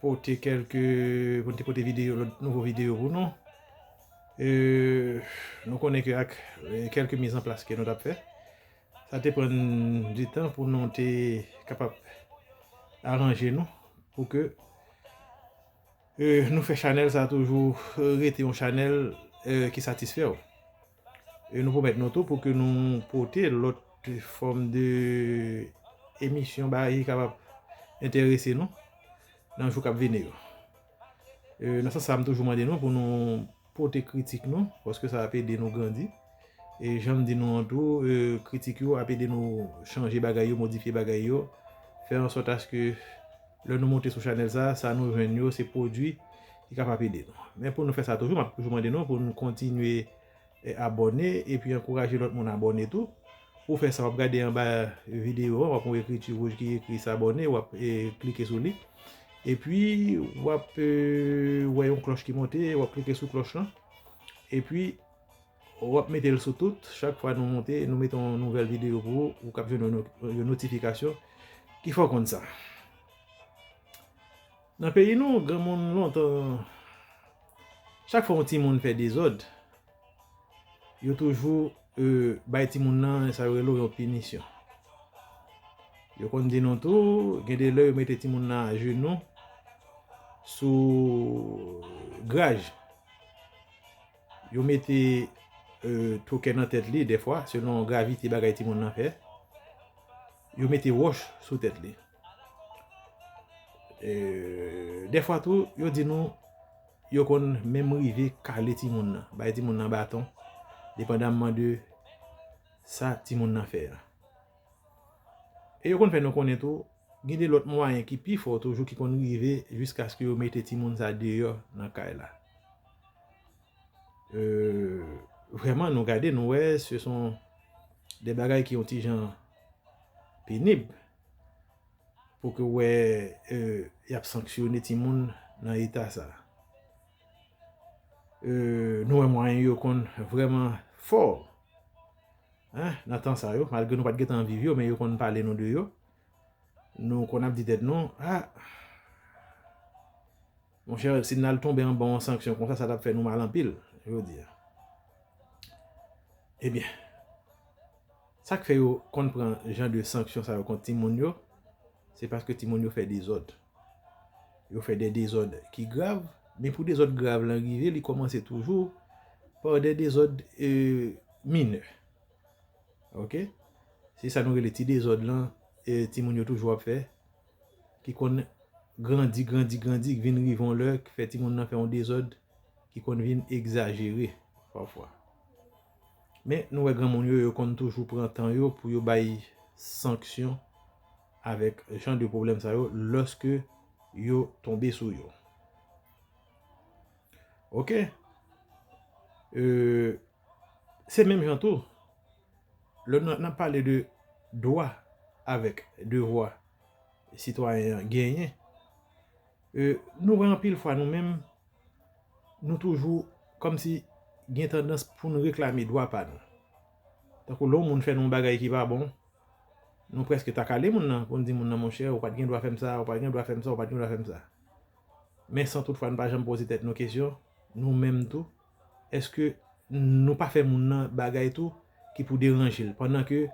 pote kelke pou nou te pote videyo lòt nouvo videyo pou nou nou konnen ke ak kelke miz an plas ke nou tap fè sa te pran di tan pou nou te kapab aranje nou pou ke nou fè chanèl sa toujou rete yon chanèl ki satisfè ou. E nou pwomèt nou tou pou ke nou pote lòt fòm de emisyon bagay ki kapab enterese nou nan jou k ap vini yo. E nan sans sa a m toujou mande nou pou nou pote kritik nou paske sa ap ede nou grandi. E jan m di nou an tou, kritik yo ap ede nou chanje bagay yo, modifye bagay yo, fè ansòt aske Lè nou monte sou chanèl sa, sa nou jwenn yo se pwodwi ki kapab ede nou. Men pou nou fè sa toujou, m ap toujou mande nou pou nou kontinye abòne epi ankouraje lòt moun abòne tou. Pou fè sa, w ap gade anba videyo an, w ap wè yon ekriti wouj ki ekri s'abonner, w ap klike sou li. Epi, w ap wè yon klòch ki monte, w ap klike sou klòch lan. Epi. Wap metel sou tout, chak fwa nou monte nou mete yon nouvèl video pou ou, ou kap jwenn yon notifikasyon ki fè w konn sa. Nan peyi nou, granmoun lontan, chak fwa yon timoun fè dezòd, yo toujou euh, bay timoun nan sa yo rele yon pinisyon. Yo konn di nou tou, gen de lè yo mete timoun nan ajenou sou graj. Yo mete tokè nan tèt li defwa selon gravite bagay ti moun nan fè. Yo mete wòch sou tèt li. Defwa tou yo di nou yo konn menm rive kale ti moun nan. Bay ti moun nan baton. Depandamman de sa ti moun nan fè. E yo konn fè nou konnen tou gen de lòt mwayen ki pi fò toujou ki konn rive jiskaske yo mete ti moun sa deyò nan kay la. Vreman nou gade nou wè se son de bagay ki yon ti jan penib pou ke wè y ap sanksyone ti moun nan eta sa. Nou wè mwayen yo konn vreman fò nan tan sa yo malgre nou pa t gen tan viv yo men yo konn pale nou de yo. Nou konn ap di tèt nou a Monchè, si n al tonbe anba yon sanksyon konsa, sa t ap fè nou mal anpil, yo di. Ebyen, sa k fè yo konn pran jan de sanksyon sa yo kont timoun yo, se paske timoun yo fè dezòd. Yo fè de dezòd ki grav, men pou dezòd grav lan rive, li kòmanse toujou pa de dezòd minè. Ok? Se sa nou rele ti dezòd lan, timoun yo toujou ap fè. ki konn grandi, grandi, grandi, ki vin rive yon lè, ki fè timoun nan fè yon dezòd, ki konn vin egzajere, pafwa. Men, nou wè granmoun yo, yo konn toujou pran tan yo pou yo bay sanksyon avèk jan de pwoblèm sa yo, lòske yo tonbe sou yo. Ok? Euh, se menm jan tou. Lè n ap pale de dwa avèk devwa sitwayen an genyen, nou wè anpil fwa nou menm, nou toujou kòm si gen tandans pou nou reklame dwa pa nou. Tankou lè yon moun fè nou yon bagay ki pa bon, nou prèske ta kale moun nan pou n di moun nan monchè ou pa t gen dwa fè m sa, ou pa t gen dwa fè m sa, ou pa t gen dwa fè m sa. Men san toutfwa n pa janm poze tèt nou kesyon, nou menm tou, eske nou pa fè moun nan bagay tou ki pou deranje l pandan ke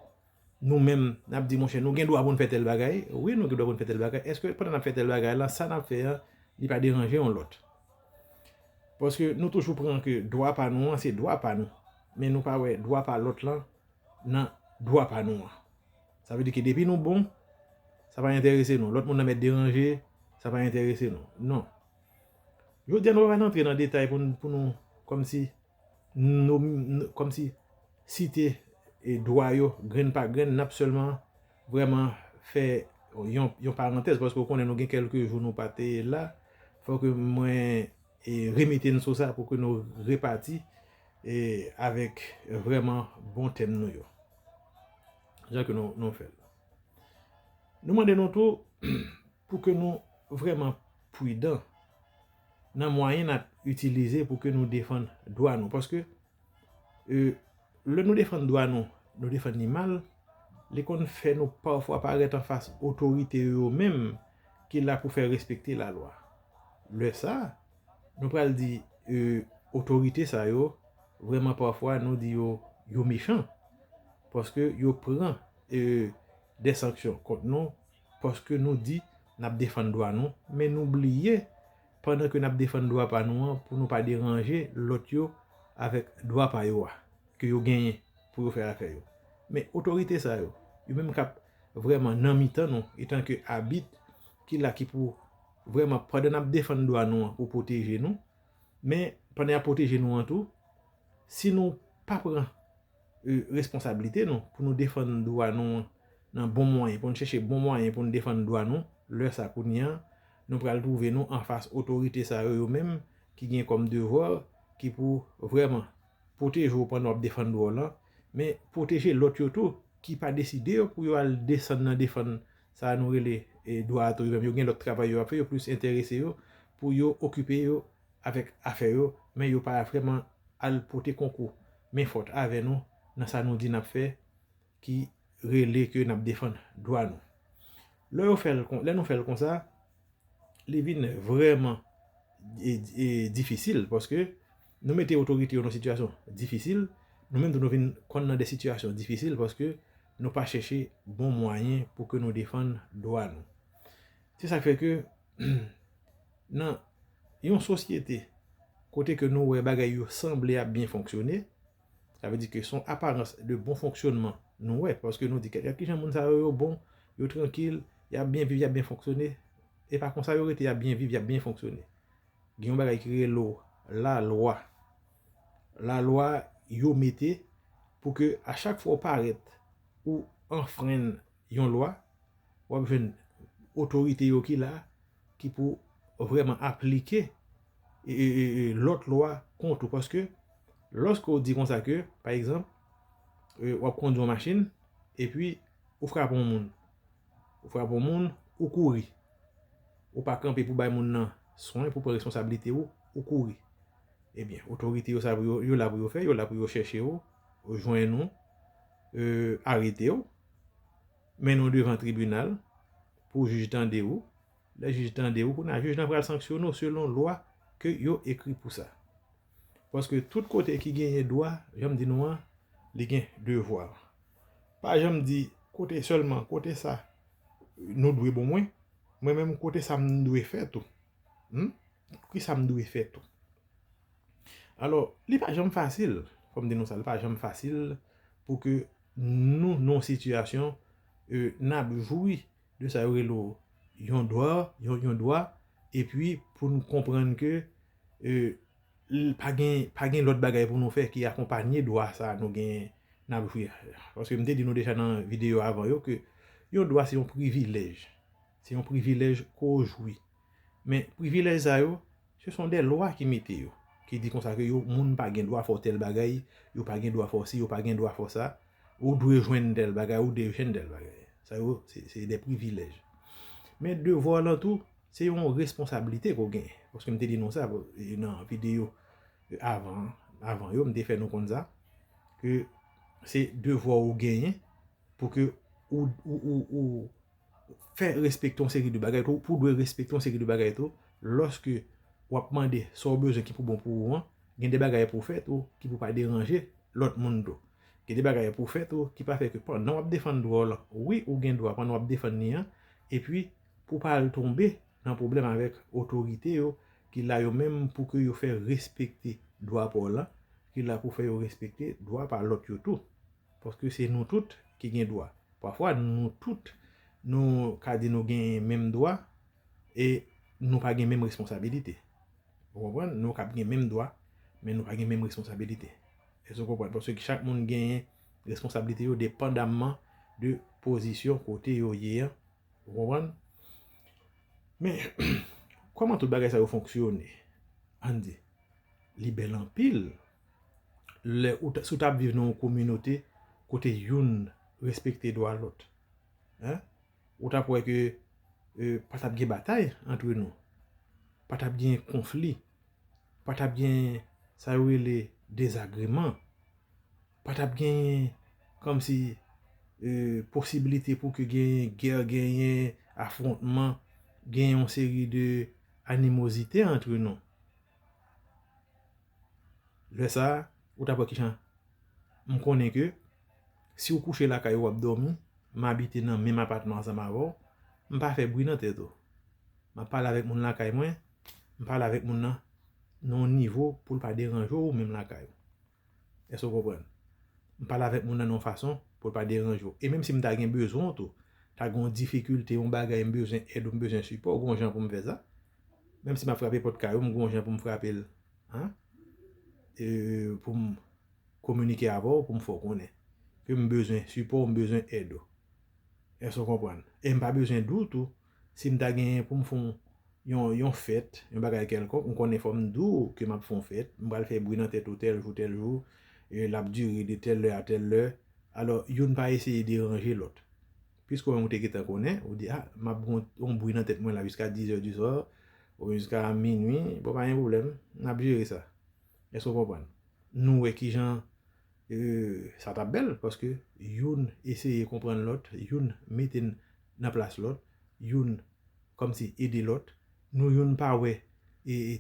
nou menm n ap di monchè nou gen dwa pou n fè tèl bagay, wi nou gen dwa pou n fè tèl bagay, eske pandan n ap fè tèl bagay la sa n ap fè an li pa deranje yon lòt? Paske nou toujou pran ke dwa pa nou an se dwa pa nou men nou pa wè dwa pa lòt lan nan dwa pa nou an. Sa vle di ke depi nou bon sa pa enterese nou, lòt moun nan mèt deranje sa pa enterese nou, non. Jodi a nou pa pral antre nan detay pou nou kòmsi kòmsi site dwa yo grenn pa grenn, n ap sèlman vrèman fè yon parantèz paske ou konnen nou gen kèlke jou nou pa te la, fò ke mwen remete n sou sa pou ke nou repati avèk vrèman bon tèm nou yo. Jan ke nou fè l. Nou mande nou tou. Pou ke nou vreman pwidan nan mwayen nap itilize pou ke nou defann dwa nou. Paske, e, lè nou defann dwa nou, nou defann ni mal, li konn fè nou pafwa parèt an fas otorite yo yo menm ki la pou fè respekte la lwa. Lè sa, nou pral di, e, otorite sa yo, vreman pafwa nou di yo, yo mechan. Paske yo pran, e, de sanksyon kont nou. Paske nou di nap defann dwa nou, men nou bliye pandan ke nap defann dwa pa nou an pou nou pa deranje lòt yo avèk dwa pa yo a ke yo genyen pou yo fè afè yo. Men otorite sa yo, yo menm kap vrèman nan mitan nou etan ke abit ki la ki pou vrèman pandan nap defann dwa nou an pou pwoteje nou, men pandan yap pwoteje nou an tou, si nou pa pran. responsabilite nou pou nou defann dwa nou an nan bon mwayen, pou nou chèche bon mwayen pou nou defann dwa nou, lè sa kounye an, nou pral twouve nou anfas otorite sa yo yo menm ki gen kòm devwa ki pou vrèman pwoteje ou pandan w ap defann dwa w lan, men pwoteje lòt yo tou ki pa deside yo pou yo al desann nan defann sa nou rele dwa a tou yo menm, yo gen lòt travay yo ap fè, yo plis enterese yo pou yo okipe yo avèk afè yo, men yo pa vrèman al pote konkou men fòt avè nou nan sa nou di n ap fè ki rele ke n ap defann dwa nou. Lè yo fè l, lè nou fè l konsa, li vin vrèman difisil paske nou mete otorite yo nan sitiyasyon difisil, nou menm tou nou vin konn nan de sitiyasyon difisil paske nou pa chèche bon mwayen pou ke nou defann dwa nou. Se sa k fè ke nan yon sosyete kote ke nou wè bagay yo sanble ap byen fonksyone, sa vle di ke son aparans de bon fonksyonman nou wè, paske nou di ke gad kijan moun sa yo yo bon, yo trankil, y ap byen viv, y ap byen fonksyone, e pa konsa yo rete y ap byen viv, y ap byen fonksyone. Gen yon bagay ki rele la lwa. La lwa yo mete pou ke a chak fwa ou parèt, ou anfrenn yon lwa, w ap jwenn otorite yo ki la ki pou vrèman aplike lòt lwa kont ou. Paske, lòske ou di konsa ke, pa egzanp, w ap kondi yon machin, epi ou frape yon moun. Ou frape yon moun, ou kouri. Ou pa kanpe pou bay moun nan swen, pou pran responsablite ou, ou kouri. Ebyen, otorite yo sa yo la pou yo fè, yo la pou yo chèche ou, jwenn ou, arete ou. mennen w devan tribinal pou jij tande ou, lè jij tande ou kounye a jij lan pral sanksyonnen w selon lwa ke yo ekri pou sa. Paske tout kote ki genyen dwa, jan m di nou an, li gen devwa. Pa janm di kote sèlman kote sa nou dwe bon mwen, mwen menm kote sa m dwe fè tou. Humm, ki sa m dwe fè tou. Alò, li pa janm fasil, fò m di nou sa, li pa janm fasil pou ke Nou nan yon sitiyasyon n ap jwi de sa yo rele yon dwa, yon dwa epi pou nou konprann ke pa gen lòt bagay pou nou fè ki akonpanye dwa sa nou genyen n ap jwi a. Paske m te di nou deja nan videyo avan yo ke yon dwa se yon privilèj, se yon privilèj ke w jwi. Men privilèj sa yo, se son dè lwa ki mete yo. Ki di konsa ke yo moun pa gen dwa fè w tèl bagay, yo pa gen dwa fè w si, yo pa gen dwa fè w sa, ou dwe jwenn tèl bagay, ou dwe jwenn tèl bagay. Sa yo, se dè privilèj. Men devwa w lan tou, se yon responsablite ke w gen. Paske m te di nou sa nan videyo avan, avan yo, m te fè nou konn sa. Ke se devwa w ou genyen pou ke ou, ou, ou, ou. fè respekte yon seri de bagay tou, pou dwe respekte yon seri de bagay tou, lòske wap mande sa ou bezwen ki pou bon pou ou an, gen de bagay pou fè tou ki pou pa deranje lòt moun tou. Gen de bagay pou fè tou ki pa fè ke pandan wap defann dwa w lan, wi ou gen dwa pandan wap defann li an, epi pou pa al tonbe nan pwoblèm avèk otorite yo ki la yo menm pou ke yo fè respekte dwa pa w lan, ki la pou fè yo respekte dwa pa lòt yo tou. Paske se nou tout ki gen dwa. Pafwa nou tout nou ka di nou gen menm dwa e nou pa gen menm responsabilite. Ou konprann? Nou kab gen menm dwa men nou pa gen menm responsabilite. Èske ou konprann? Paske chak moun genyen responsabilite yo depandamman de pozisyon kote yo ye an. Ou konprann? Men, kòman tout bagay sa yo fonksyone? Ann di. Li bèl anpil. Lè ou ta, si w ta ap viv nan yon kominote kote youn respekte dwa lòt. Hein? Ou ta ap wè ke e pa ta ap gen batay antre nou. Pa ta ap gen konfli. Pa ta ap gen sa yo rele dezagreman. Pa ta ap genyen kòm si e posibilite pou ke genyen gè, genyen afwontman, genyen yon seri de animozite antre nou. Lè sa a, ou t ap wè ki jan m konnen ke si w kouche lakay ou w ap dòmi, m abite nan menm apatman ansanm avè w, m pa fè bri nan tèt ou. M ap pale avèk moun lakay mwen, m pale avèk moun nan nan yon nivo pou l pa deranje w ou menm lakay ou. Èske w konprann? M pale avèk moun nan yon fason pou l pa deranje w. E menm si m ta gen bezwen w tou, ta gen yon difikilte, yon bagay m bezwen èd ou, m bezwen sipò w, gen yon jan pou m fè sa. Menm si m ap frape pòt kay ou, m gen yon jan pou m frape l pou m kominike avè w, pou m fè w konnen ke m bezwen sipò w, m bezwen èd ou. Èske w konprann? E m pa bezwen di w tou Si m ta genyen pou m fè yon fèt, yon bagay kèlkonk, m konnen fò m di w ke m ap fè yon fèt, m pral fè bri nan tèt ou tèl jou tèl jou, l ap dire de tèl lè a tèl lè. Alò, youn pa eseye deranje lòt. Piske ou menm ou te gentan konnen, ou di, a, m ap gen yon bri nan tèt mwen la jiska dizè di swa, oubyen jiska minui, bon pa gen pwoblèm, n ap jere sa. Èske ou konprann? Nou wè ki jan Sa tap bèl paske youn eseye konprann lòt, youn mete nan plas lòt, youn kòmsi ede lòt. Nou youn pa wè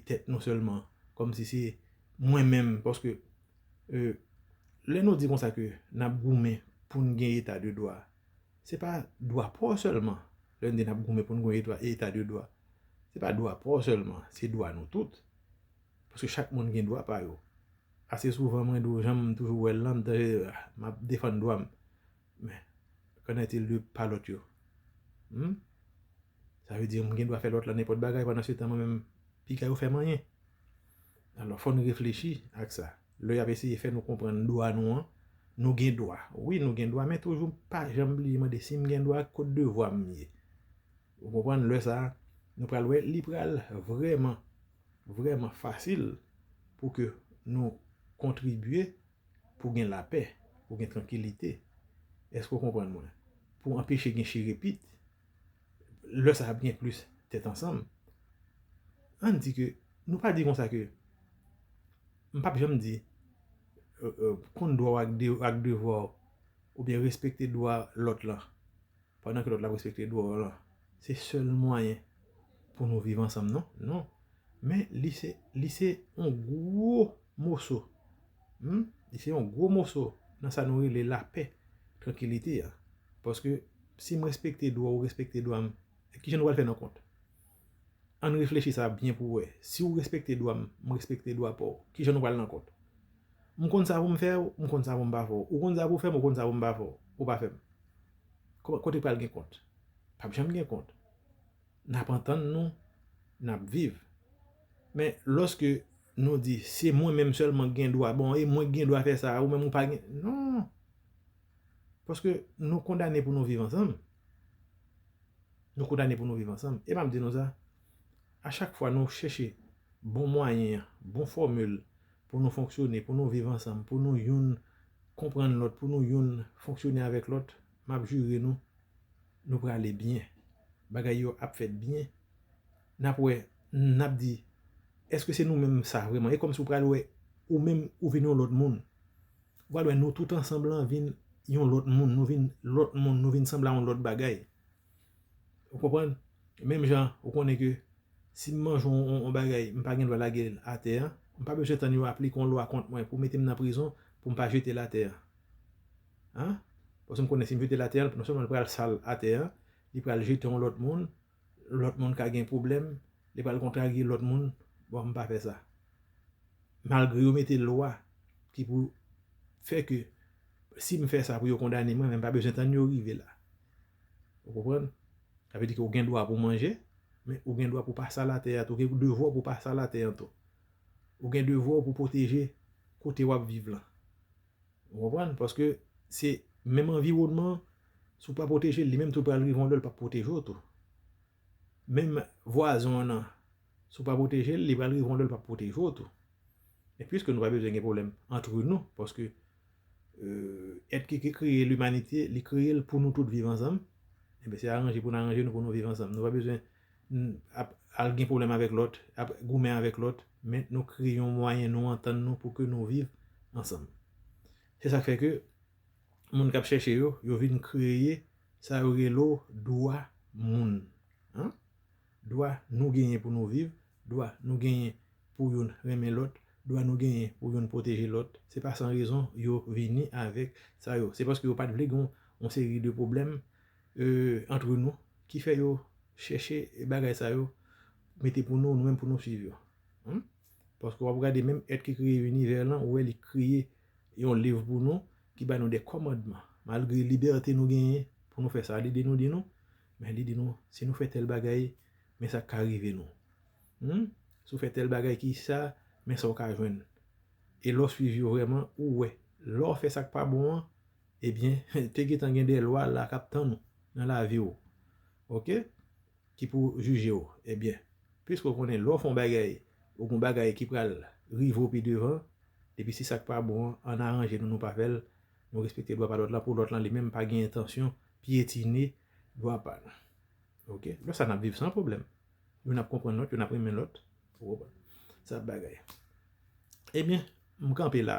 tèt nou sèlman kòmsi se mwen menm paske lè nou di konsa ke nap goumen pou n gen eta de dwa, se pa dwa pa w sèlman, lè n di nap goumen pou n gen eta de dwa, se pa dwa pa w sèlman, se dwa nou tout. Paske chak moun gen dwa pa yo. Ase souvan mwen di w, jan m toujou wè l lan, m ta di m ap defann dwa m. Men, k'en est-il de pa lòt yo? Hum? Sa vle di m gen dwa fè lòt lan nenpòt bagay pandan se tan mwen menm piga yo fè m anyen? Alò, fò n reflechi ak sa. Lè y ap eseye fè nou konprann dwa nou an, nou gen dwa. Wi, nou gen dwa men toujou pa janm bliye mande si m gen dwa, kot devwa m ye? Ou konprann? Lè sa a, nou pral wè li pral vrèman. vrèman fasil pou ke nou kontribye pou gen lapè, pou gen trankilite. Èske ou konprann mwen? Pou anpeche gen chirepit, lè sa ap gen plis tèt ansanm. An n di ke, nou pa di kon sa ke, m pap janm di, konn dwa w ak devwa w, oubyen respekte dwa lòt lan, Pandan ke lòt la ap respekte dwa w lan. Se sèl mwayen pou nou viv ansanm non. Non. Men li se, li se yon gwo moso. Hum! Li se yon gwo moso nan sa nou rele lapè, trankilite a. Paske si m respekte dwa w, ou respekte dwa m, ki jan nou pral fè nan kont? Ann reflechi sa byen pou wè. Si ou respekte dwa m, m respekte dwa pa w, ki jan nou pral nan kont? M konn sa pou m fè w, m konn sa pou m pa fè w. Ou konn sa pou w fè m, ou konn sa pou m pa fè w. Ou pa fè m. Kote pral gen kont? Pap janm gen kont. Nap antann nou, nap viv. Men, loske nou di, se mwen menm selman gen dwa, bon, e mwen gen dwa fè sa, ou menm ou pa gen, non! Paske nou kondane pou nou viv ansanm. Nou kondane pou nou viv ansanm. E map di nou sa, a chak fwa nou cheche bon mwayen, bon fòmil pou nou fonksyone, pou nou viv ansanm, pou nou youn konprann lòt, pou nou youn fonksyone avèk lòt, m ap jire nou, nou prale byen. Bagay yo ap fèt byen. N ap wè, n ap di, èske se nou menm sa vrèman? E kòmsi w pral wè ou menm ou vin yon lòt moun. Ou pral wè nou tout ansanm lan vin yon lòt moun, nou vin lòt moun, nou vin sanble a yon lòt bagay. Ou konprann? Menm jan ou konnen ke si m manje yon bagay m pa gen dwa lage l atè an, m pa bezwen tann yo aplike yon lwa kont mwen pou mete m nan prizon pou m pa jete l atè an. A? Paske m konnen si m jete l atè an, non sèlman l pral sal atè an, li pral jete yon lòt moun, lòt moun ka gen pwoblèm, li pral kontrarye lòt moun. Bon, m pa fè sa. Malgre yo mete lwa ki pou fè ke si m fè sa pou yo kondane mwen, men m pa bezwen tann yo rive la. Ou konprann? Sa vle di ke ou gen dwa pou manje, men ou gen dwa pou pa sal atè a tou. Ou gen devwa pou pa sal atè an tou. Ou gen devwa pou pwoteje kote wap viv lan. Ou konprann? Paske se menm anviwònman, si ou pa pwoteje li menm tou pral rive yon lè li pap pwoteje ou tou. Menm vwazon an nan, si w pa pwoteje l, li pral rive yon lè l p ap pwoteje w tou. E piske nou pa bezwen gen pwoblèm antre nou, paske èt ki kreye limanite, li kreye l pou nou tout viv ansanm, enben se aranje pou n aranje nou pou nou viv ansanm. Nou pa bezwen ap al gen pwoblèm avèk lòt, ap goumen avèk lòt, men nou kreye yon mwayen nou antann nou pou ke nou viv ansanm. Se sa k fè ke moun kap chèche yo, yo vin kreye sa yo rele w dwa moun an, dwa nou genyen pou nou viv, dwa nou genyen pou youn renmen lòt, dwa nou genyen pou youn pwoteje lòt, se pa san rezon yo vini avèk sa yo, se paske yo pat vle gen yon seri de pwoblèm antre nou ki fè yo chèche bagay sa yo mete pou nou, nou menm pou nou swiv yo. Paske wap gade menm èt ki kreye inivè lan ou wè li kreye yon liv pou nou ki ba nou de kòmandman. Malgre libète nou genyen pou nou fè sa li di nou di nou, men li di nou si nou fè tèl bagay men sa k ka rive nou. Humm si w fè tèl bagay ki sa men sa w ka jwenn. E lè w swiv yo vrèman ou wè lè w fè sa k pa bon an ebyen te gentan gen de lwa la k ap tann ou nan lavi w. Ok. ki pou jije w ebyen piske w konnen lè w fè yon bagay ou gen yon bagay ki pral rive w pi devan epi si sa k pa bon an an aranje nou nou pa fè l nou respekte dwa pa lòt la pou lòt lan li menm pa gen entansyon pyetine dwa pa nou ok lè sa n ap viv san pwoblèm youn ap konprann lòt youn ap renmen lòt ou konprann sa bagay ebyen m kanpe la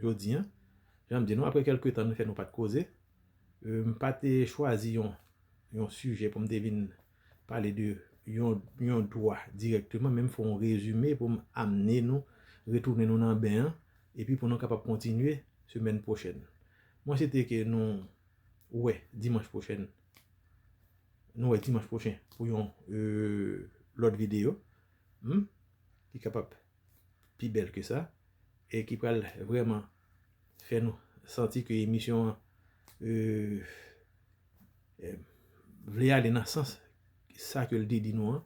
jodi an jan m di nou aprè kèlke tan nou fè nou pa t koze M pa te chwazi yon sijè pou m te vin pale de yon dwa dirèkteman, men m fè yon rezime pou m amne nou, retounen nou nan ben an, epi pou nou kapab kontinye semèn pwochèn. Mwen swete ke nou wè dimanch pwochèn, nou wè dimanch pwochen pou yon lòt videyo, m, ki kapab. pi bèl ke sa e ki pral vrèman fè nou santi ke emisyon an vle ale nan sans sa ke l te di nou an.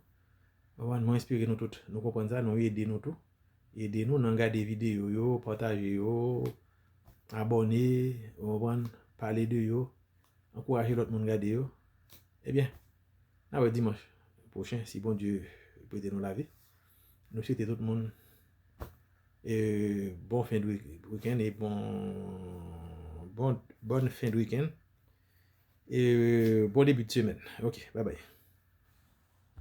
Mwen espere nou tout nou konprann sa, nou ede nou tou. Ede nou nan gade videyo yo, pataje yo, abòne, ou konprann, pale de yo, ankouraje lòt moun gade yo. Ebyen, nan wè dimanch pwochen si Bondye prete nou lavi. Nou swete tout moun bon fen de week-end e bon bonne fin de week-end e bon début de semaine ok bye bye.